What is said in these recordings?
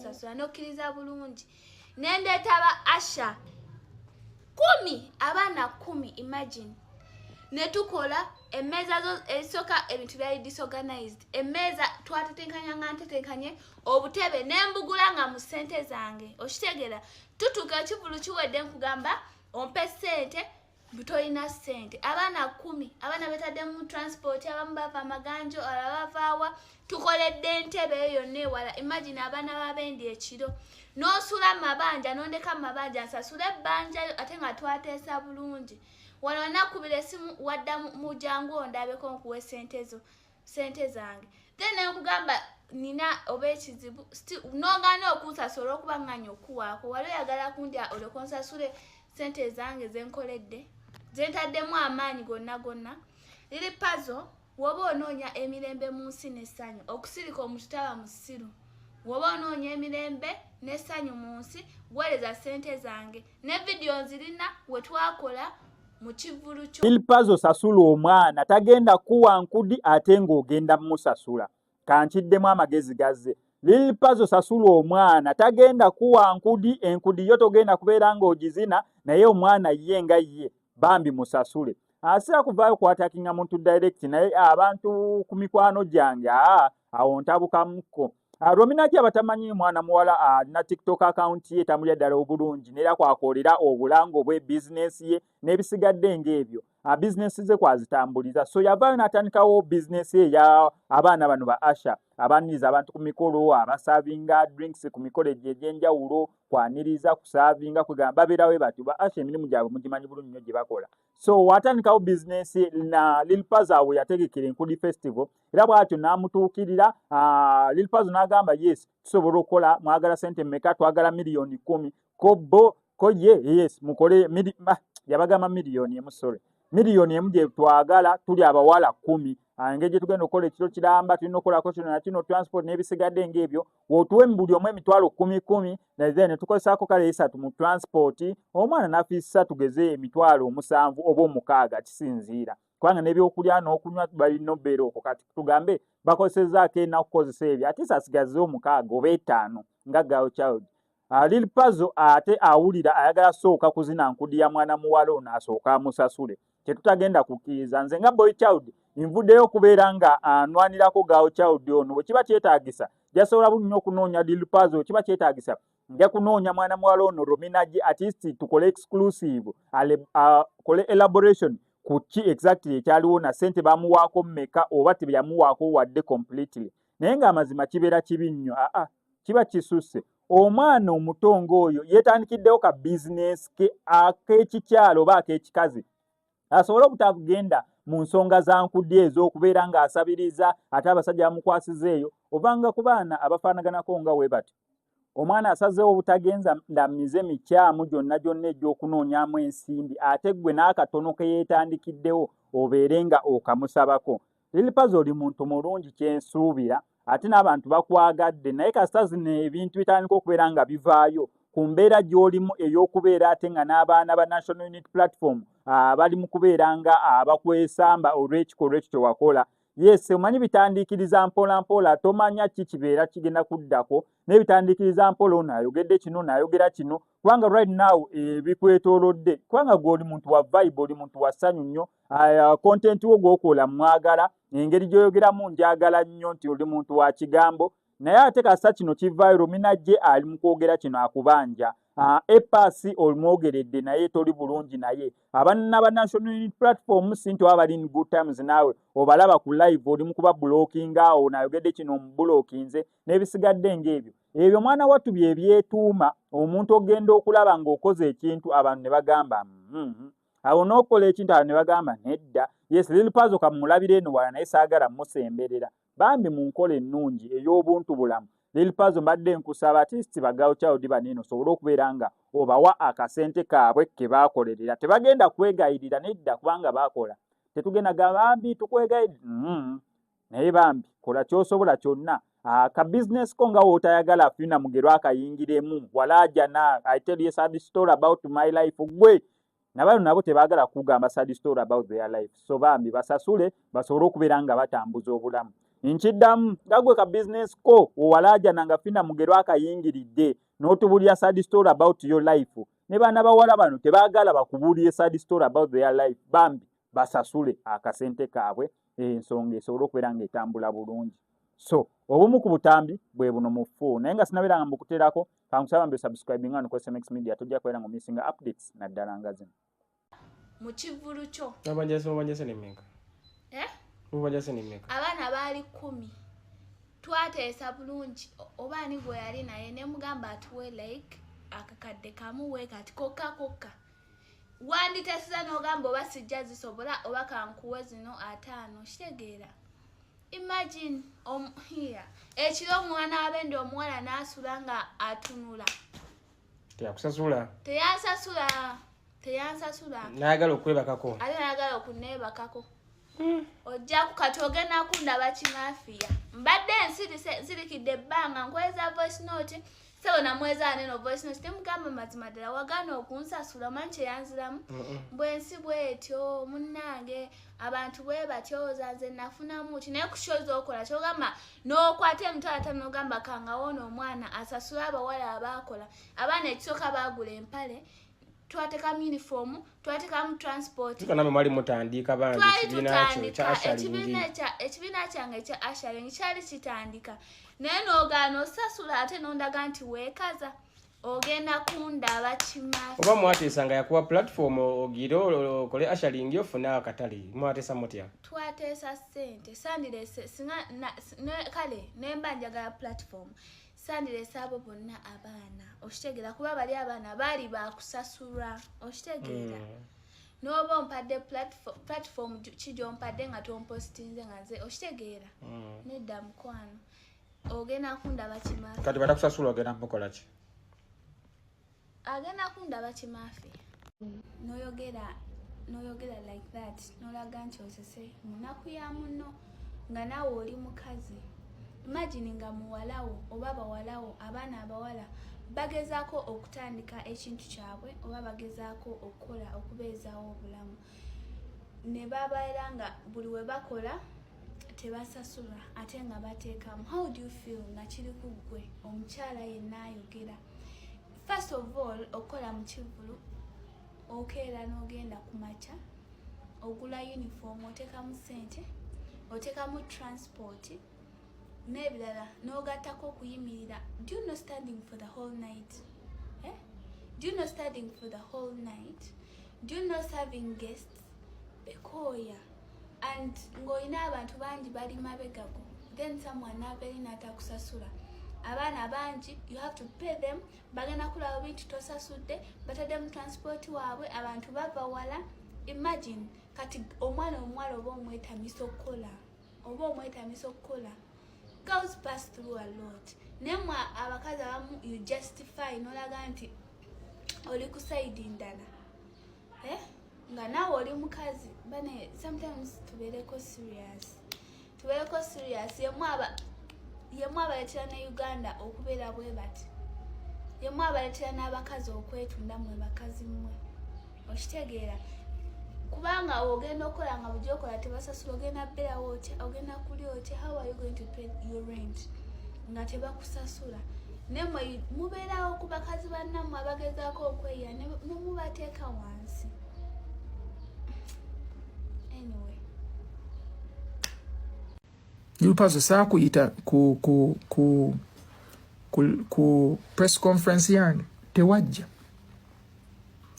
nsasula nokkiriza bulungi nendeeta ba asha kumi abaana kumi imagine netukola emmeeza zo ezisooka ebintu byali disorganized emmeeza twatetenkanya nga ntetenkanye obutebe nembugula nga mu sente zange okitegera tutuka ekivulu kiwedde nkugamba ompe sente butolina sente abaana kumi abaana betaddemu transport abamu bava amaganjo alabavaawa tukoledde entebe eyo yonna ewala imagine abaana babendi ekiro nosula mabanja nondeka mabanja nsasula ebbanja yo ate nga twateesa bulungi wano nakubira esimu wadda mujangu ondabeko nkuwa esente zo sente zange then nenkugamba nina oba ekizibu nogana okunsasula okuba nganya okuwaako wali oyagala kundya olekonsasule sente ezange zenkoledde zentaddemu amaanyi gonna gonna liri pazo woba onoonya emirembe mu nsi nesanyu okusirika omuntu taba musiru woba onoonya emirembe nesanyu mu nsi wereza sente zange ne vidiyo nzirina wetwakola ilpazo sasula omwana tagenda kuwa nkudi ate ng'ogenda musasula kankiddemu amagezi gazze lilpazo sasula omwana tagenda kuwa nkudi enkudi yo togenda kubeera ng'ogizina naye omwana ye nga ye bambi musasule asira kuvaayo kwatakinga muntu direct naye abantu ku mikwano gyange aa awo ntabukam ko ah, rominaki abatamanyi mwana muwala alina ah, tiktok account ye tamulya ddala obulungi neera kwakoolera obulango bwe bizinesi ye n'ebisigadde ng'ebyo ah, bizinesi ze kwazitambuliza so yavaayo n'atandikawo bizinesi eya abaana bano ba asha abaniriza abantu ku mikolo abasavinga drinks ku mikolo egyo egy'enjawulo kwaniriza kusaavinga kwegamba babeerawe batyo ba asha emirimu gyabwe mugimanyi bulungi nnyo gye bakola so watandikawo bizinensi na lilpaza we yategekera enkudi festival era bwatyo n'amutuukirira ah, lilpaza n'agamba yes tusobola okukola mwagala sente meka twagala miliyoni kumi ko bo ko ye yes mukole ah, yabagamba miliyoni emu sorry miliyoni emu gye twagala tuli abawala kumi ah, engeri gye tugenda okukola ekiro kiramba tulina okukolako kino na kino transport n'ebisigadde ng'ebyo wotuwe mubuli omu emitwalo kumi kumi naye netukozesaako kale esatu mu transport omwana nafiisa tugeze emitwalo omusanvu oba omukaaga kisinziira kubanga nebyokulya nokunywa balina obeera okwo kati tugambe bakozesezaako enaku kukozesa ebyo ate sasigaze omukaaga oba etaano nga girl child Ah, Lil Pazo ate awulira ayagala sooka kuzina nkudi ya mwana muwala ono asooka amusasule kyetutagenda kukkiriza nze nga boy child nvuddeyo okubeera nga anwanirako gawo child ono bwe kiba kyetaagisa jasobola bulunyo okunoonya Lil Pazo bwe kiba kyetaagisa nja kunoonya mwana muwala ono Romina G artist tukole exclusive akole ah, elaboration ku ki exactly ekyaliwo na sente bamuwaako mmeka oba tebeyamuwaako wadde completely naye nga amazima kibeera kibi nnyo aa ah, kiba kisusse omwana omuto ng'oyo yeetandikiddewo ka bizinesi ke ak'ekikyalo oba ak'ekikazi asobole obutagenda mu nsonga za nkudya ez'okubeera ng'asabiriza ate abasajja bamukwasiza eyo ovanga ku baana abafaanaganako nga we bati omwana asazeewo obutagenza ndamize mikyamu gyonna gyonna egy'okunoonyamu ensimbi ate ggwe n'akatono ke yeetandikiddewo obeere nga okamusabako Lilipazo oli muntu mulungi kyensuubira ate n'abantu bakwagadde naye kasita zino ebintu bitandika okubeera nga bivaayo ku mbeera gy'olimu ey'okubeera ate nga n'abaana ba National Unit Platform ah, bali mu kubeera nga abakwesamba ah, olw'ekikolwa ekyo kye wakola yes omanyi bitandiikiriza mpola mpola tomanya ki kibeera kigenda kuddako naye bitandiikiriza mpola ono ayogedde kino naayogera kino kubanga right now ebikwetolodde eh, kubanga gwe oli muntu wa vibe oli muntu wa ssanyu nnyo ah, content wo gwokola mwagala engeri gyoyogeramu njagala nnyo nti oli muntu wa kigambo naye ate kasa kino kivairo minajje ali mu kwogera kino akubanja ah, epasi olumwogeredde naye toli bulungi naye abanna ba national unit platform sinti oba bali in good times naawe obalaba ku live oli mu kuba bulokinga awo nayogedde kino omubulokinze n'ebisigadde ng'ebyo ebyo mwana wattu bye byetuuma omuntu ogenda okulaba ng'okoze ekintu abantu ne bagamba mm-hmm. awo n'okola ekintu abantu ne bagamba nedda yes lil pazo kamulabira eno wala naye saagala musemberera bambi mu nkola ennungi ey'obuntu bulamu lil pazo mbadde nkusaba atisti bagawo kyawudi baneeno osobole okubeera nga obawa akasente kaabwe ke baakolerera tebagenda kwegayirira nedda kubanga baakola tetugenda gabambi tukwegayirira mm-hmm. naye bambi kola kyosobola kyonna ah, ka business ko nga wotayagala afina mugero akayingiremu walajana i tell you sad story about my life gwe nabano nabo tebagala kugamba sad story about their life so bambi basasule basobole okubeera nga batambuza obulamu nkiddamu nga gwe ka business ko owalajana nga fina mugero akayingiridde notubulira sad story about your life ne baana bawala bano tebagala bakubulire sad story about their life bambi basasule akasente kaabwe ensonga esobole okubeera nga etambula bulungi so obumu ku butambi bwe buno mu fuu naye nga sinabeera nga mbukuteerako kankusaba mbe subscribing nga nukozesa mx media tojja kubeera nga omisinga updates naddala nga zino mu kivvulu kyo abajazi mubajazi nemeka eh? mubajazi nemeka abaana baali kkumi twateesa bulungi oba ani gwe yali naye ne mugamba atuwe like akakadde kamu wekati kokka kokka wanditesiza n'ogamba oba sijja zisobola oba kankuwe zino ataano kitegeera imagine omuhiya ekiro omwana wabende omuwala n'asula nga atunula teyakusasula teyasasula teyansasula nayagala okwebakako ate nayagala okuneebakako hmm. ojja kukati ogenda kundaba kimafiya mbadde nsirise nsirikidde ebbanga nkweza voice note sebo namweza neno voice note temugamba mazima ddala wagaana okunsasula omanyi kyeyanziramu bwensi bwetyo munnange abantu bwe batyoza nze nafunamu ti naye kushoza okola kyogamba n'okwata emitwalo atano nogamba kangawoona omwana asasula abawala abaakola abaana ekisooka baagula empale twatekamu uniform twatekamu transportnamwe mwali mutandiika banjiekibiina kyange ekya asharing kyali kitandika naye nogaana osasula ate nondaga nti wekaza ogenda kundaba kimaa oba mwateesa nga yakuwa platform ogire okole asharing ofune akatale mwateesa mutya twateesa sente sandirese kale nemba njagala platform sandilese abo bonna abaana okitegeera kuba bali abaana baali bakusasulwa okitegeera mm. noba ompadde platform kigyompadde nga tompositinze nga nze okitegeera mm. nedda mukwano ogenda kundaba kimaa kati batakusasula ogenda mukolaki agenda kundaba kimaafe noyogera noyogera like that nolaga nti osese munaku ya muno nga naawe oli mukazi imagine nga muwalawo oba bawalawo abaana abawala bagezaako okutandika ekintu kyabwe oba bagezaako okukola okubeezawo obulamu ne babeera nga buli we bakola tebasasula ate nga bateekamu how do you feel nga kiri ku ggwe omukyala yenna ayogera first of all okukola mu kivulu okeera n'ogenda ku makya ogula uniform otekamu sente otekamu transport n'ebirala n'ogattako okuyimirira do you know standing for the whole night eh? do you know standing for the whole night do you know serving guests bekooya and ng'olina abantu bangi bali mabegago then someone naberi natakusasula abaana bangi you have to pay them bagenda kulaba bintu tosasudde bataddemu transport waabwe abantu bava wala imagine kati omwana omuwala oba omwetamisa okukola oba omwetamisa okukola girls pass through a lot naye mwe abakazi abamu you justify nolaga nti oli ku sayidi ndala eh? nga naawe oli mukazi bane sometimes tubeereko serious tubeereko serious yemu aba yemu abaletera ne uganda okubeera bwe bati yemu abaletera n'abakazi okwetunda mwe bakazi mmwe okitegeera kubanga ogenda okukola nga bujokola tebasasula ogenda berawo otya ogenda kuli otya how are you going to pay your rent nga tebakusasula nemwe mubeerawo ku bakazi bannammwe abagezaako okweya nemubateeka wansi anyway lupazo saakuyita ku, ku, ku, ku, ku press conference yange tewajja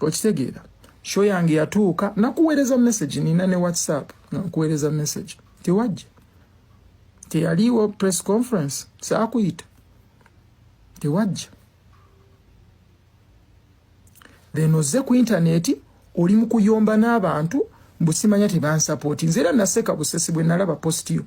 okitegeera sho yange yatuuka nakuweereza message nina ne whatsapp nakuweereza message tewajja teyaliwo press conference saakuyita tewajja then ozze ku intaneti oli mu kuyomba n'abantu mbusimanya tebansapooti nze era naseka busesi bwe nalaba positiyo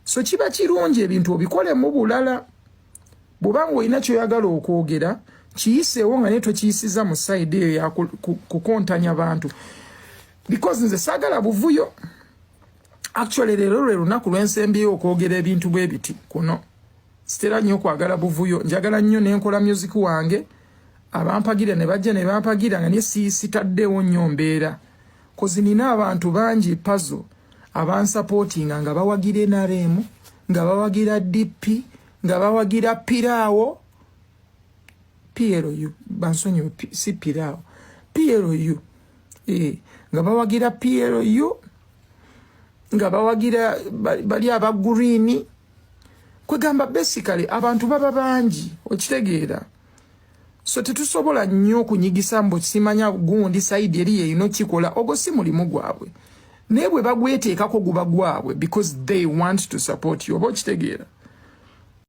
so kiba kirungi ebintu obikole mu bulala bwobanga olina kyoyagala okwogera kiyiseewo nga naye twekiyisiza mu saidi eyo yakukontanya bantu because nze sagala buvuyo actually lero lwe lunaku lwensembyeyo okwogera ebintu bwe biti kuno sitera nnyo kwagala buvuyo njagala nnyo nenkola music wange abampagira ne bajja ne bampagira nga naye sitaddeewo nnyo mbeera kozi nina abantu bangi pazo abansapotinga nga bawagira enaremu nga bawagira dp nga bawagira piraawo plu bansonyiwe si piraawo plu eh, nga bawagira plu nga bawagira bali aba gurini kwegamba basically abantu baba bangi okitegeera so tetusobola nnyo okunyigisa mbu simanya gundi saidi eri yeyina okikola ogwo si mulimu gwabwe naye bwe bagweteekako guba gwabwe because they want to support you oba okitegeera